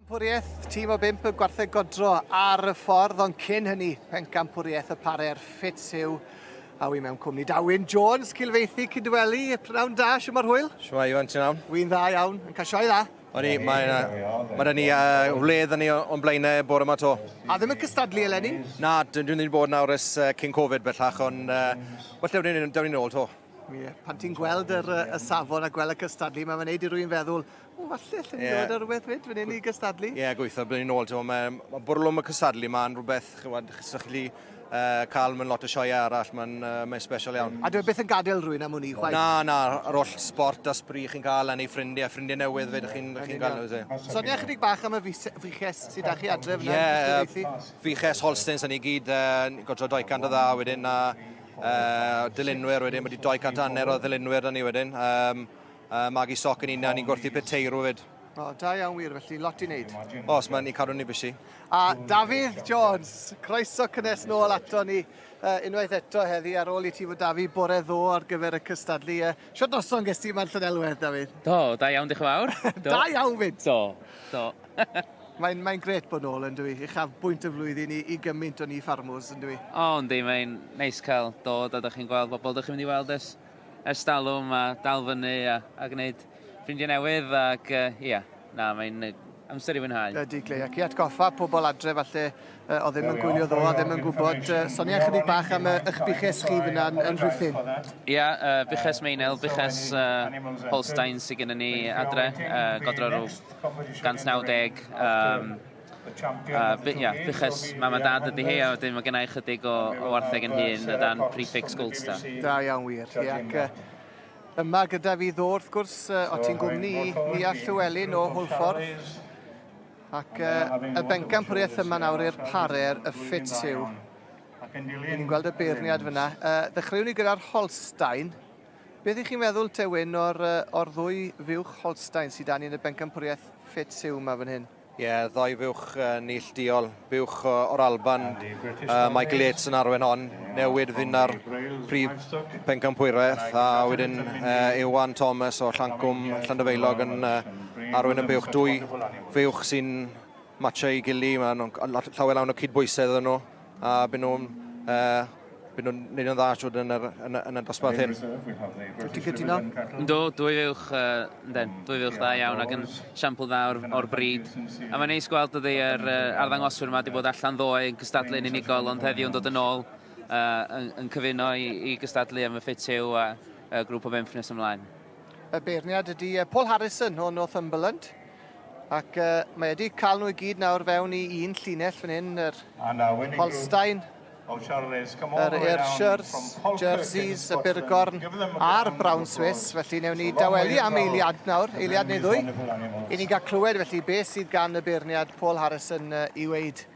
Pencampwriaeth tîm o bimp y gwartheg godro ar y ffordd, ond cyn hynny, pencampwriaeth y parer ffit yw a wy mewn cwmni Dawyn Jones, cilfeithi Cydweli. Pnawn da, siwm ar hwyl? Siwm ar hwyl, ti'n iawn? Wy'n dda iawn, yn cael sioe dda. O'n i, mae yna, mae yna ni uh, wledd yn ni o'n blaenau e bore yma to. A ddim yn cystadlu eleni? Na, dyn ni'n bod nawr ys uh, cyn Covid bellach, ond uh, well, dewn ni'n dewn ni'n ôl to. Ie, pan ti'n gweld yr, y safon a gweld y cystadlu, mae'n gwneud i rwy'n feddwl, o, falle, lle ni'n yeah. dod ar rhywbeth fyd, fan hyn i gystadlu. Ie, yeah, gweithio, byddwn ni'n ôl, ti'n mae, mae bwrlwm y cystadlu yma'n rhywbeth, chywed, sy'ch chi uh, cael mewn lot o sioeau arall, mae'n uh, mae special iawn. A dwi e beth yn gadael rwy'n am hwnni, chwaith? Na, na, yr holl sport a sbri chi'n cael, a neu ffrindiau, ffrindiau newydd fe chi'n chi cael nhw. So, Sonia chydig bach am y fiches sydd â chi adref yna? Ie, uh, fiches Holstens yn ei gyd, uh, godro 200 o dda wedyn, a uh, dylunwyr wedyn, wedi 200 anner o ddylunwyr da ni wedyn. Um, uh, Magi Soc yn un, a ni'n gwrthu peteirw wedyn. O, da iawn wir, felly lot i wneud. Os mae'n ni cadw ni bysi. A Dafydd Jones, croeso cynnes nôl ato ni uh, unwaith eto heddi ar ôl i ti fod Dafi bore ddo ar gyfer y cystadlu. Uh, Sio noson ges ti ma'n Llynelwedd, Dafydd? Do, da iawn, diolch yn fawr. Do. da iawn fyd. Do, do. Mae'n mae gret bod nôl yn dwi, uchaf bwynt y flwyddyn i, i gymaint o ni ffarmwrs yn dwi. O, yndi, mae'n neis cael dod a da chi'n gweld bobl da chi'n mynd i weld ers, ers dalwm a dal fyny a, a gwneud ffrindiau newydd ac, uh, ia, na, mae'n Amser i fwynhau. Ydy, Glei, ac i atgoffa pobl adre falle uh, o ddim yn gwylio ddo, a ddim yn gwybod, uh, sonia chydig bach am uh, eich buches chi fyna yn, yn Rhuthun. Ie, yeah, uh, buches Meinel, buches uh, Holstein sydd gennym ni adre, uh, godro rhyw 190, um, Uh, by, yeah, buches mam a dad ydy hi, a wedyn mae gennau chydig o, o wartheg yn hun, o dan prefix Goldstar. Da iawn wir, ie. Ac, uh, Yma gyda fi ddo wrth gwrs, o ti'n gwmni Nia Llewelyn o Hwlffordd. Ac y bencampwriaeth yma nawr i'r parer y ffit yw. Ni'n gweld y beirniad fyna. Dechreuwn ni gyda'r Holstein. Beth ych chi'n meddwl, Tewyn, o'r, o'r ddwy fuwch Holstein sydd dan ni yn y bencampwriaeth ffit yw yma fan hyn? Ie, ddoi fuwch neillduol, buwch o'r Alban, uh, Michael Yates yn arwen hon, newid finna'r prif pencampwraeth, a wedyn uh, Iwan Thomas o Llancwm Llandyfeilog yn uh, arwen y buwch. Dwy fuwch sy'n matcha i gili, mae'n llawer lawn o cydbwysedd yn nhw. A byd nhw'n uh, byd nhw'n neud yn dda siwr yn, yr, yn, yn y dosbarth hyn. Ti'n cytuno? Do, dwy fuwch, uh, den, dwy fuwch dda iawn ac yn siampl dda o'r, or bryd. A mae'n neis gweld ydy yr uh, arddangoswyr yma wedi bod allan ddoe yn cystadlu'n unigol ond heddiw yn dod yn ôl uh, yn, yn cyfuno i, i gystadlu am y ffit yw a uh, grŵp o bimp nes ymlaen. Y beirniad ydy uh, Paul Harrison o Northumberland. Ac uh, mae wedi cael nhw i gyd nawr fewn i un llinell fan hyn, yr Holstein, yr Ayrshires, Jerseys, y Burgorn a'r Brown Swiss. Felly newn ni dawelu am eiliad nawr, eiliad neu ddwy, i ni gael clywed felly beth sydd gan y beirniad Paul Harrison i weid.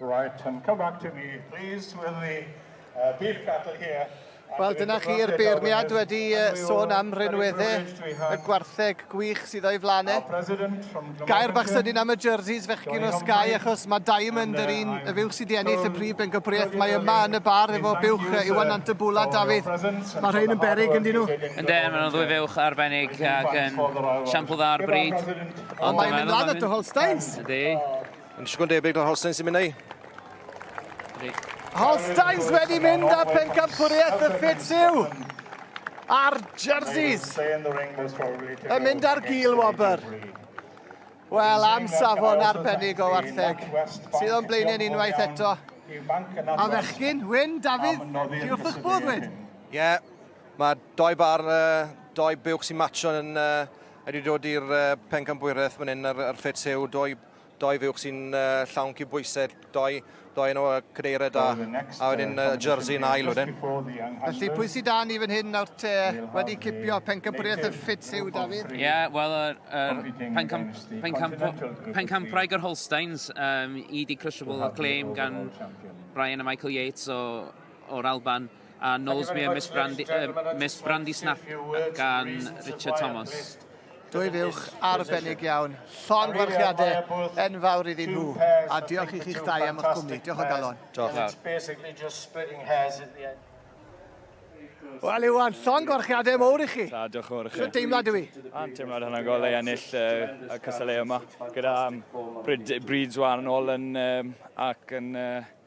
Right, and come back to me, please, with the uh, beef cattle here. Wel, dyna chi'r beirniad wedi sôn am rhinwedde y gwartheg gwych sydd o'i flanau. Gair bach sydyn am y jerseys fechgyn o Sky, achos mae Diamond yr un y fywch sydd wedi ennill y prif bencampwriaeth. Mae yma yn y bar efo bywch Iwan Antabula, Dafydd. Mae rhain yn berig yn dyn nhw. Yn den, maen nhw'n ddwy fywch arbennig ac yn siampl dda ar bryd. Ond mae'n mynd lan at y Holsteins. Ydy. Yn siŵr yn debyg na Holsteins i mynd ei. Holsteins wedi mynd â pencampwriaeth y ffit yw a'r jerseys yn mynd ar gil wobr. Wel, am safon arbennig o wartheg, sydd o'n blaenau'n unwaith eto. A fechgyn, Wyn, Dafydd, chi wrth eich bodd, Wyn? Ie, yeah, mae doi bar, uh, doi buwch sy'n matcho yn uh, Wedi dod i'r pencampwriaeth fan hyn ar, ar Ffit Siw, doi, doi fuwch sy'n uh, llawn cydbwysedd, doi, doi yn o cadeiriau da, a wedyn uh, jersey yn ail wedyn. Felly pwy sydd dan i fan hyn nawr te wedi cipio pencampwriaeth y Ffit Siw, Dafydd? Ie, yeah, wel, yr er, er pencamp, pencamp, pencampwraig yr Holsteins, um, i di crushable o claim gan Brian a Michael Yates o, o'r Alban. A nos mi a Miss Brandy, uh, Miss Brandy Snap gan Richard Thomas. Dwy fiwch arbennig iawn. Llon gwarchiadau enfawr iddyn nhw. A diolch i chi'ch dau am eich cwmni. Diolch o galon. Diolch fawr. Wel, Iwan, llon gwarchiadau mowr i chi. Da, diolch yn fawr i chi. Sut deimlad yw i? A'n teimlad hynny'n gol ei ennill uh, y cysylltu yma. Gyda um, Breeds wan yn ôl yn, um, ac yn uh,